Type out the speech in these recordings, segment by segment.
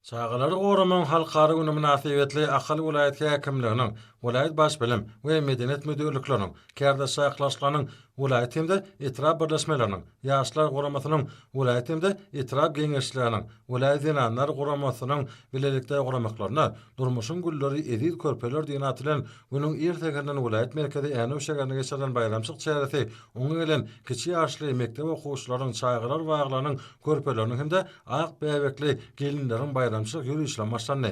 Çagalary goramagyň halkara güni mynasybetli Ahal welaýat häkimliginiň, welaýat baş bilim we medeniýet müdirlikleriniň, kärdeş çakylaşyklarynyň welaýat hem-de etrap birleşmeleriniň, Ýaşlar guramasynyň welaýat hem-de etrap geňeşçileriniň, welaýat zenanlar guramasynyň bilelikde guramaklaryna Durmuşyň gülleri, eziz körpeler diýen at bilen günüň ir säherinden welaýat merkezi Änew şäherinde geçirilen baýramçylyk çäresi oňa gelen kiçi ýaşly mekdep okuwçylarynyň, çagalar baglarynyň körpeleriniň hem-de Ak bäbekli gelinleriň baýramçylyk ýörişlem başlandy.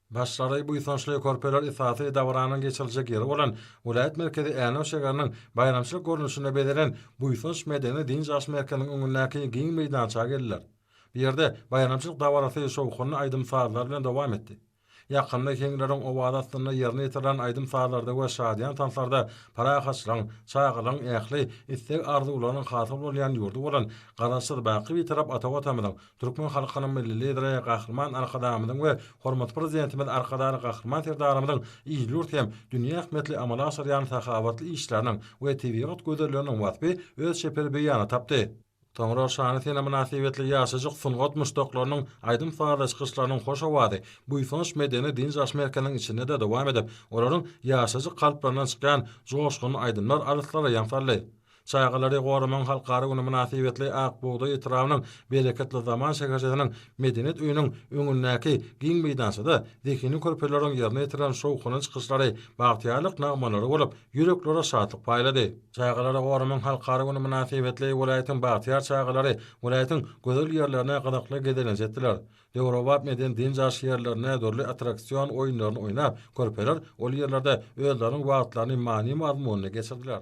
Başlary buýsançly körpeler esasy dabaranyň geçiriljek ýeri bolan welaýat merkezi Änew şägeriniň baýramçylyk görnüşinde bezelen Buýsanç medeni-dynç alyş merkeziniň öňündäki giň meýdança geldiler. Bu ýerde baýramçylyk dabarasy şowhunly aýdym-sazlar bilen dowam etdi. Ýakynda heňleriň owazy astynda ýerine ýetirilen aýdym-sazlarda we şadyýan tanslarda parahatçylygyň, çagalygyň ähli isleg-arzuwlarynyň hasyl bolýan ýurdy bolan Garaşsyz, baky Bitarap ata Watanymyzyň, türkmen halkynyň Milli Lideri Gahryman Arkadagymyzyň we hormatly Prezidentimiz Arkadagly Gahryman Serdarymyzyň il-ýurt hem dünýä ähmiýetli amala aşyrýan sahawatly işleriniň we tebigat gözelliginiň waspy öz çeper beýanyny tapdy. Soňra şana sene mynasybetli ýaşajyk sungat muşdaklarynyň aýdym-sazly çykyşlarynyň hoş owazy Buýsanç medeni-dynç-alyş merkeziniň içinde-de dowam edip, olaryň ýaşajyk kalplaryndan çykýan joşgunly aýdymlar alyslara ýaň saldy. Çagalary goramagyň halkara güni mynasybetli Ak bugdaý etrabynyň Bereketli zaman şäherçesiniň Medeniýet öýüniň öňündäki giň meýdançada zehini körpeleriň ýerine ýetiren şowhunly çykyşlary bagtyýarlyk nagmalary bolup ýüreklere şatlyk paýlady. Çagalary goramak halkara güni mynasybetli welaýatyň bagtyýar çagalary welaýatyň gözel ýerlerine gyzykly gezelenç etdiler. Döwrebap medeni-dynç alyş ýerlerinde dürli attraksion oýunlaryny oýnap, körpeler ol ýerlerde özleriniň wagtlaryny many-mazmunly geçirdiler.